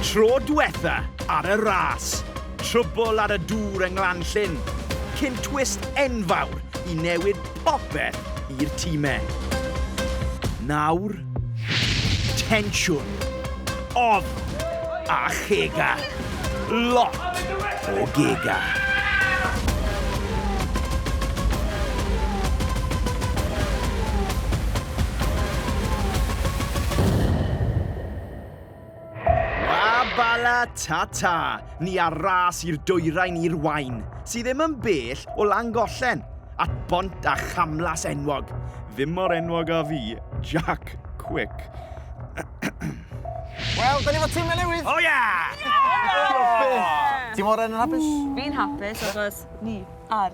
Tro diwetha ar y ras, trwbl ar y dŵr yng Nglanllyn, cyn twist enfawr i newid popeth i'r timau. Nawr, tensiwn, ofn a chega. Lot o gega. Bala ta ta, ni ar ras i'r dwyrain i'r wain, sydd ddim yn bell o Langollen, at bont a chamlas enwog. Ddim mor enwog a fi, Jack Quick. Wel, da ni fod tîmau newydd! O ia! Ti mor yn hapus? Fi'n hapus achos ni ar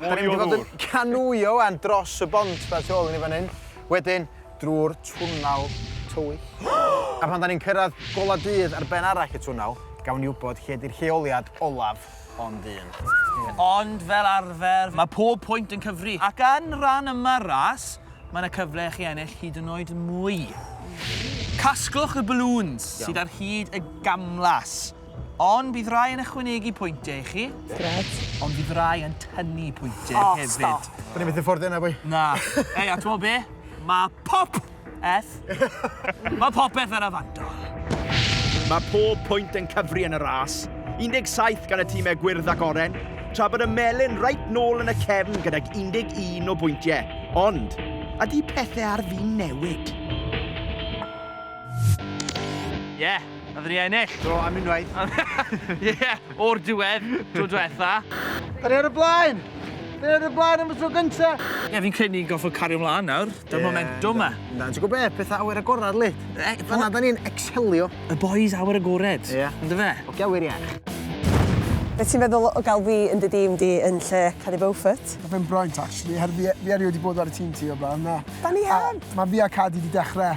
Mwy o ddŵr. Da ni'n mynd i fod yn canŵio wan dros y bont ma tu ôl i ni fan hyn, wedyn drwy'r twnnel tywyll. A pan da ni'n cyrraedd golau dydd ar ben arall y twnnel, gawn ni wybod lle ydy'r lleoliad olaf ond un. Ond fel arfer, mae pob pwynt yn cyfri. Ac yn rhan yma'r ras, mae yna cyfle i chi ennill hyd yn oed mwy. Casglwch y balŵns sydd ar hyd y gamlas. Ond bydd rhai yn ychwanegu pwyntiau i chi. Grêt. Ond fydd rhai yn tynnu pwyntiau oh, hefyd. O, stop. Bwni beth i'n ffordd yna, bwy? Na. Ei, a ti'n be? Mae pop eth. Mae popeth yn y fandol. Mae pob pwynt yn cyfri yn y ras, 17 gan y tîmau gwyrdd ac oren, tra bod y melyn reit nôl yn y cefn gydag 11 o bwyntiau. Ond, ydy pethau ar fin newid? Ie, yeah, Nath ni ennill! Do, am unwaith. Ie, o'r diwedd, tro diwetha. Da ni ar y blaen! Da ni ar y blaen am y tro gynta! Ie, fi'n credu ni'n gorfod cario mlaen nawr, dy'r momentum ma. Na, ti'n gwybod be, pethau awyr agored, lyd. E, Fanna da ni'n excelio. Y boys awyr agored. Ie. Yn dy fe? O, gawyr iach. Be ti'n feddwl o gael fi yn dy dîm di yn lle Cari Beaufort? Mae fe'n braint, actually, her fi, fi erioed wedi bod ar y tîm ti o'r blaen, na. Da ni heb! Mae fi a Cadi wedi dechrau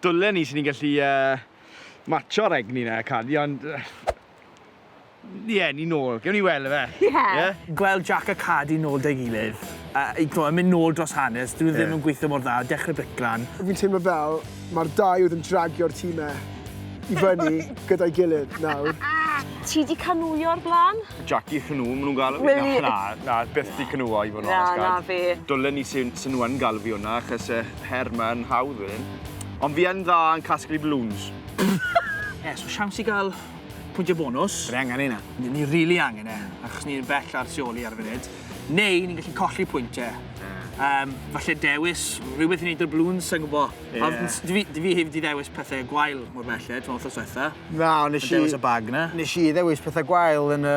Dwlen i swn i'n gallu matsio'r egni 'na, Carly, ond... Ie, ni nôl. Gewn ni weld ife? Ie. Gweld Jac a Carly nôl 'da'i gilydd, yn mynd nôl dros hanes, 'dyn nhw ddim yn gweithio mor dda, dechrau briclan. Fi'n teimlo fel mae'r dau oedd yn dragio'r timau i fyny gyda'i gilydd nawr. Ti 'di canŵio o'r blaen? Jaci Cnŵ, maen nhw'n galw fi. Na, na, byth 'di canŵo i fod yn onest, Cat. Na, na fi. Dwlen i 'sen nhw yn galw fi hwnna, achos yy... her ma yn hawdd fan hyn. Ond fi yn dda yn casglu balloons. Ie, so siawns i gael pwyntiau bonus. Fe angen hynna. Ni, ni really angen e, achos ni'n bell ar sioli ar y funud. Neu ni'n gallu colli pwyntiau. Um, falle dewis rhywbeth i wneud o'r blwns, sa'n gwybod. Yeah. Dwi fi, dwi fi heb di ddewis pethau gwael mor belled, ti'n meddwl, wrth Na, ond nes i... Dewis y bag na. Nes i ddewis pethau gwael yn y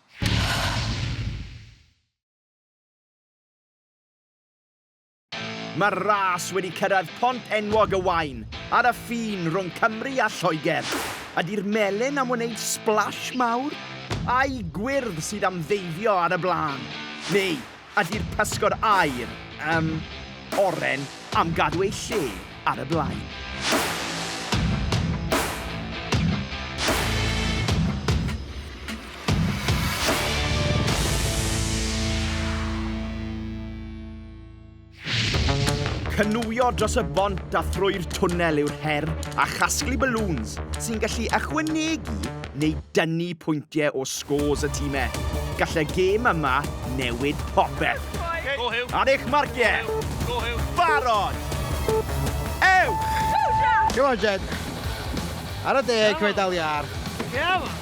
Mae'r ras wedi cyrraedd pont enwog y Waun ar y ffin rhwng Cymru a Lloegr. Ydy'r melyn am wneud splash mawr? Ai gwyrdd sydd am ddeifio ar y blaen? Neu Ydi'r pysgod aur, yym, oren am gadw eu lle ar y blaen? Cynwio dros y bont a thrwy'r twnnel yw'r her, a chasglu balŵns sy'n gallu ychwanegu neu dynnu pwyntiau o scores y timau. Gall y gêm yma newid popeth. Ar eich marciau! Barod! Ewch! Come on, Jed. Ar y deg, cymryd dal iar. Come on.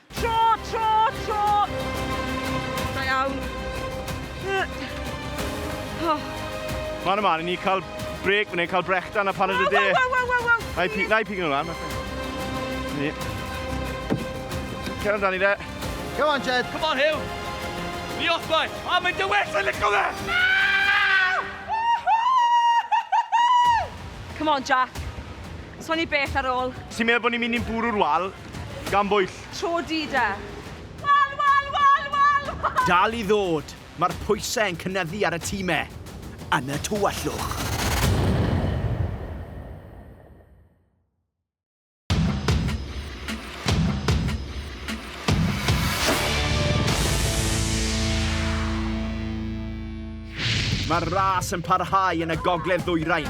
Tro, tro, tro! Da iawn. Ma'n yma, ni cael breg fan hyn, cael brechdan a paned y de. Waw, waw, waw, waw, Na i Na i pig nhw'n lan. Ni. Cer amdani de. Come on, Jed. Come on, Hugh. Ni off, boi. A mae'n dy well, yn licio fe. Come on, Jack. So ni beth ar ôl. Ti'n meddwl bod ni'n mynd i'n bwrw'r wal? Gan bwyll. Tro du de. Wal, wal, wal, wal, wal! Dal i ddod! Mae'r pwysau yn cynyddu ar y time yn y tywyllwch. Mae'r ras yn parhau yn y gogledd ddwyrain,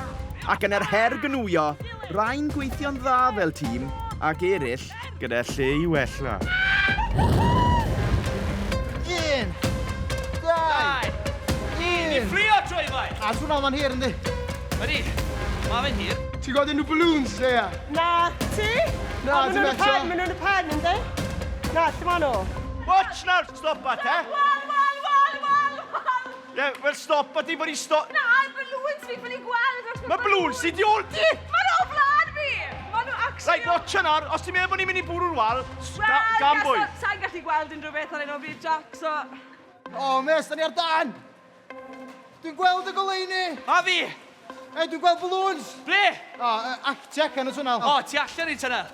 ac yn yr her gwnwyo, Rhain gweithio'n dda fel tîm ac eraill gyda lle i wella. Un, dau, un. Ni ffrio trwy fai. A swn o'n hir yndi? Ydy, mae fe'n hir. Ti'n gweld unrhyw balloons, Leia? Na, ti? Na, dim eto. Mae nhw'n y pen, yndi? Na, lle maen nhw? Watch nawr, stop at, eh? Ie, wel stop a ti bod i sto... Na, balloons fi ffili gweld! Mae balloons ti di ôl ti! Mae'n o flan fi! Mae nhw actually... Right, watch yna, os ti'n meddwl bod ni'n mynd i bwrw'r wal, gan bwy? Wel, sa'n gallu gweld unrhyw beth ar ein o bryd, Jack, so... O, mes, da ni ar dan! Dwi'n gweld y goleini! A fi! E, dwi'n gweld balloons! Ble? O, uh, Actec yn y twnnel. O, ti allan i tunnel.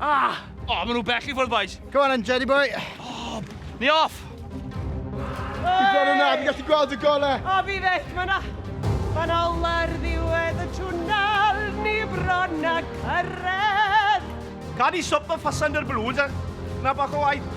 Ah! Oh, maen nhw bell i ffwrdd, boys. Go on, then, Jenny boy. Oh, ni off! Dwi'n gweld hwnna, dwi'n gallu gweld y gole. O, fi feth, mae yna... Mae yna ola'r ddiwedd y twnnel, ni bron a cyrraedd. Cad i swp y ffasand ar blwyd, na bach o waith.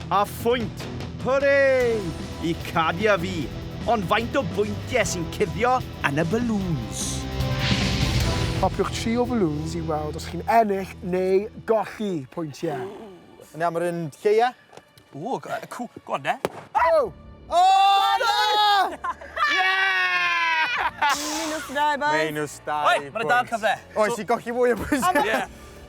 A phwynt! Hwre! Y Cadia fi! Ond faint o bwyntiau sy'n cuddio yn y balloons? Topiwch tri o falloons i weld os chi'n ennill neu golli pwyntiau. Ww! Awn ni am yr un lleia? Ww, go y cw- go on de. O! O na! Ie! Minus dau boi. Minus dau bwynt. Oi, ma' 'na dal cyfle. Oes i golli fwy o bwyntiau? Ie.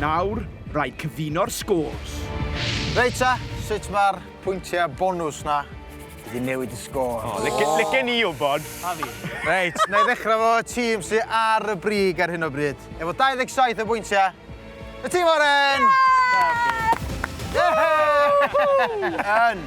Nawr, rhaid cyfuno'r scores. Reit ta, sut mae'r pwyntiau bonws 'na wedi newid y sgôr? O, lici- licen i wybod. A fi. Reit, na i ddechrau 'fo tîm sy ar y brig ar hyn o bryd, efo 27 o bwyntiau, Y tîm oren! Yn!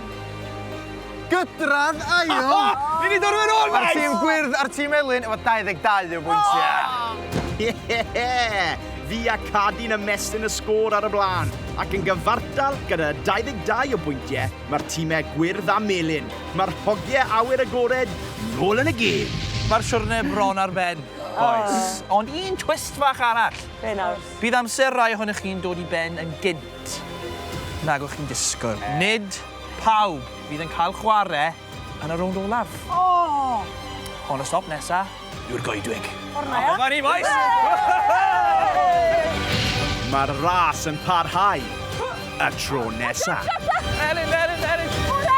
Gydradd ail! Ni wedi dod yn ôl, Maes! Mae'r tîm gwyrdd a'r tîm elyn efo 22 o bwyntiau. Ie! Fi a Cadi'n ymestyn y sgôr ar y blaen, ac yn gyfartal gyda 22 o bwyntiau mae'r tîmau gwyrdd a melyn. Mae'r hogiau awyr agored nôl yn y gêm! Mae'r siwrne bron ar ben, bois. Ond un twist fach arall. Be nawr? Bydd amser rai ohonoch chi'n dod i ben yn gynt nag o'ch chi'n disgwyl. Nid pawb fydd yn cael chwarae yn y rownd olaf. O! Ond y stop nesa yw'r goedwig. O'r na. Dyma ni bois! Mae'r ras yn parhau y tro nesa. Elin, Elin, Elin! Elin!